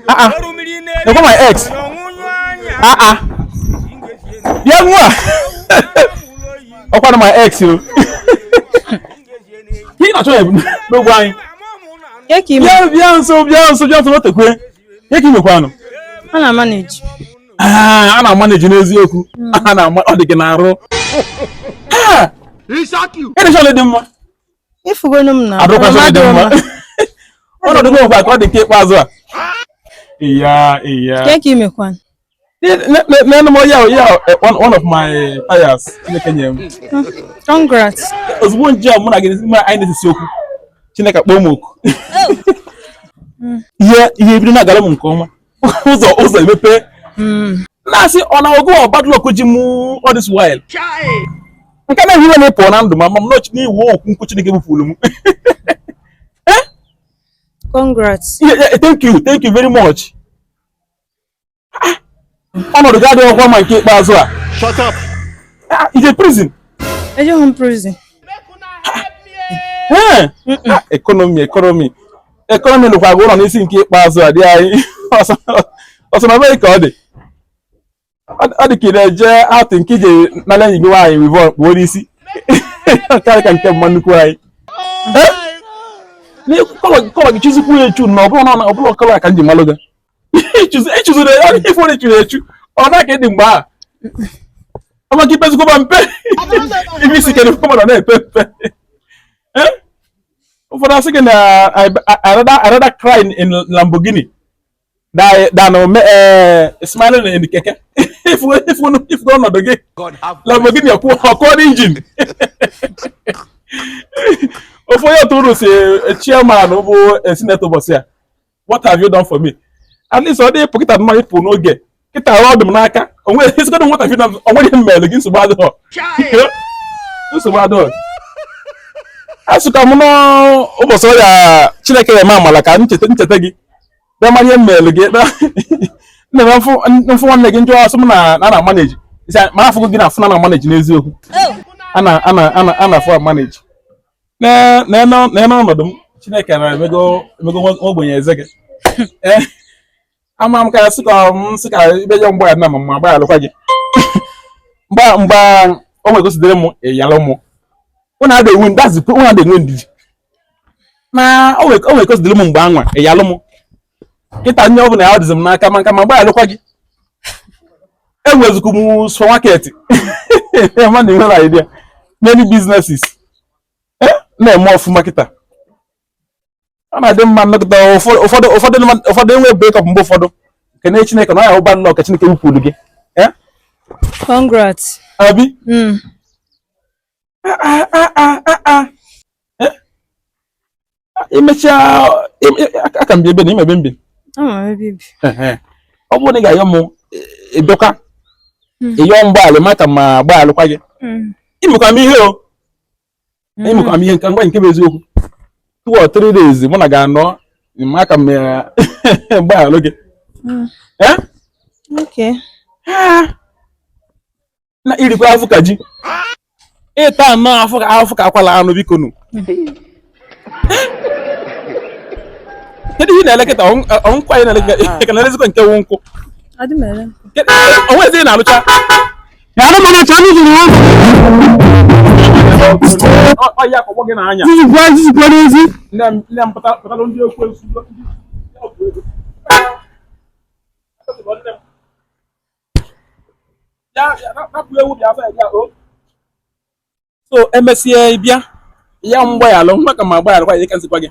Ah, ah. Ọkwa my ex. Ah ah. Bịa nwa. Ọkwa na my ex o. Ihe na-achọ ya n'ogbe anyị. Bịa bịa nso bịa nso bịa nso wetekwe. Kee ka i mekwanụ. A na maneji. Ah, a na maneji n'eziokwu. Hmm. A na ọ dị gị n'arụ. Ịdịcha dị mma. ị fụgonụ m na adịkwazị m dị mma. Ọnọdụ m nwekwa ka ọ dị nke ikpeazụ a. Iya, iya. Kee ka i mekwan Nenenụ m ya one of my tires Chineke nyere m. congrats Ozugbo nje mụ na gị anyị na-esesi okwu. Chineke akpọọ m oku. Ihe ebido na-agara m nke ọma. ụzọ emepe hmm. na-asị ọ na ọ gị bụ bad luck ji mụ all this while nke na ehiwe na-epụ na ndụ m ma m nọchi n'iwu okwu nkwu Chineke bupụrụ m eh? congrats thank you very much ah, ọnọdụ gị adịghọkwa mma nke ikpeazụ a shut up ah, i je prison ejeghị m prison eh, ah, economy economy Economy lụkwa gị ụlọ n'isi nke ikpeazụ a dịanyị ọsọmabeghi ka ọ dị ọ dị ka ị na-eje atụ nke i je nala enyi gị nwaanyị weavon kpuo n'isi ka ị dị ka nke mma nnukwu anyị color gị chuzikwu ya echu na ọbụlọ color ka m ji malụ gị i chuziri ya ọ dị ife churu echu ọ na ka ị dị mgbe a ọma gị pezikwa mpe ibi isi kedụ mmadụ na-epe mpe ụfọdụ asị gị na I rather cry in Lamborghini than eh, smiling in keke ị fụ ọnọdụ gị Lamborghini ọ kụọ engine ofu onye otu unu sị eh, chairman bụ eh, senator ụbọchị a what have you done for me at least ọ dị ịpụ kịta mma ịpụ n'oge kịta ọ dị m n'aka onweghị ezigbo what have you done onweghị m mere gị nsogbu adịghọ nsogbu adịghọ asịkwa m n'ụbọchị ọrịa chineke ya eme amala ka m cheta gị bịa manye m mere gị nne m fụ nwanne gị m jụọ ọ sị m na ị na maneji ma afụgo m gị na afụ na ị na maneji n'eziokwu oh. a na afụ maneji nene ọnọdụ m Chineke nna emego ogbenye eze gị eh, ama m ka sị ka m sị ka ibe ya mgbe na ma gbaghalụkwa gị mgbe o nwe ka o si dịlị m ị yalụ mụ ụnụ ada enwe ndidi na o nwe ka o si dịlị m mgbe anwa ị yalụ mụ kịta nye ọbụla ya dịzi m n'aka ma ka ma gbaalụkwa gị enwezikwu m supermarket ma na enwere idea many businesses eh, na-eme ọfụma kịta ọ na-adị mma nnọkịta ụfọdụ enwe break up mgbe ụfọdụ kene chineke na ọ ya ụba nnọọ ka chineke wukwuru gị eh? congrats abi hmm. ah, ah, ah, imechaa e, e, a ka m bi ebe na ị ma ebe m bi ọ bụrụ na ị ga-ayọ m ị bịakwa hmm. ịyọ mgbaala ma ka ma gbaalụkwa gị hmm. imekwa m ihe o hmm. imekwa m ihe nke ngwa nke bụ eziokwu two or three days mụ na ga-anọ ma ka m gbaalụ gị Okay. na irikwa afụ ka ji ịta anọ afụ ka afụ ka akwala anụ biko nụ kedu ihe na-elekọta ọ kwa anyị na-elekọta na-elezikwa nke wụ nkụ onwezi na-alụcha na anụ mmanụ ọcha anụ jiri ọya akpọgbọ gị n'anya this is crazy nne m pụtara ndị okwu esu so emesịa ịbịa yọ mgbaghalụ ma ka ma gbaghalụkwa ka nsikwa gị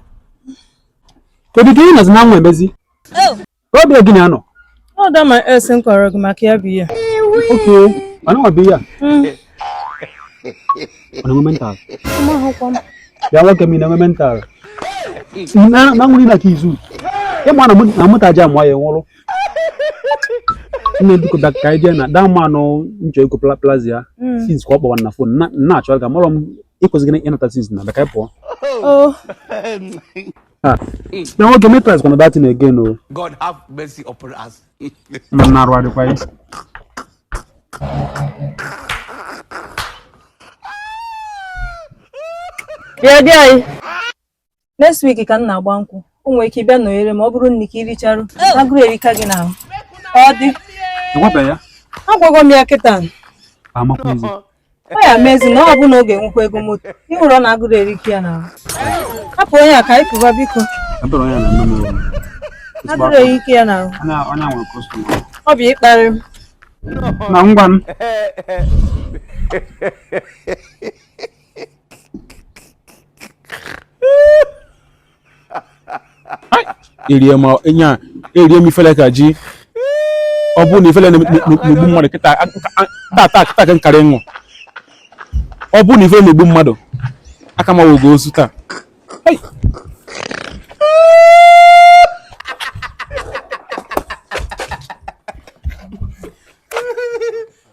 kedu ka ị nọzi na nwa emezi obi gị na-anọ ọ da ma asị m kọọrọ gị maka ya bụ ihe okay mana nwa bụ ihe a ọ na-enwe mental mahụkwa m ya nwoke m ị na-enwe mental na nwere na ka izu ịma na mụ na mụtaji amụọ ya nwụrụ nne biko bịa ka anyị jee na daa mma anụ nchọ ego pla- plaza ya Mm. since ka ọ kpọwa na fon na- na achọ ka mụrọ m ịkwụsị gị ịnata since na bịa ka anyị pụọ Oh, na nwoke mee price kwana that thing again o God have mercy upon us. ma m na arụ adịkwa ya yeah, there. next week ka m na-agba nkwụ o nwere ike ịbịa nọnyere ma ọ bụrụ nri ka ị richarụ agụrụ erika gị n'ahụ ka ọ dị Ị gwabe ya. agwago m ya kịta Amakwaghịzi. ọ ya mezi na ọ bụ na ọ ga-enwekwa ego moto ịhụrụ na agụrụ erika ya n'ahụ hapụ onye a ka anyị pụba biko Ebere onye na-eme m ewu. agụrụ erika ya n'ahụ Onye a- onye a nwere kọstọma. ọ bụ ịkparị m Na ngwa m. erie ma nya erie m ifele ka ji ọ bụrụ na ifele na-egbu mmadụ kịta tata kịta ka m karị ịnwụ ọ bụrụ na ifele na-egbu mmadụ aka m awụgo ozu taa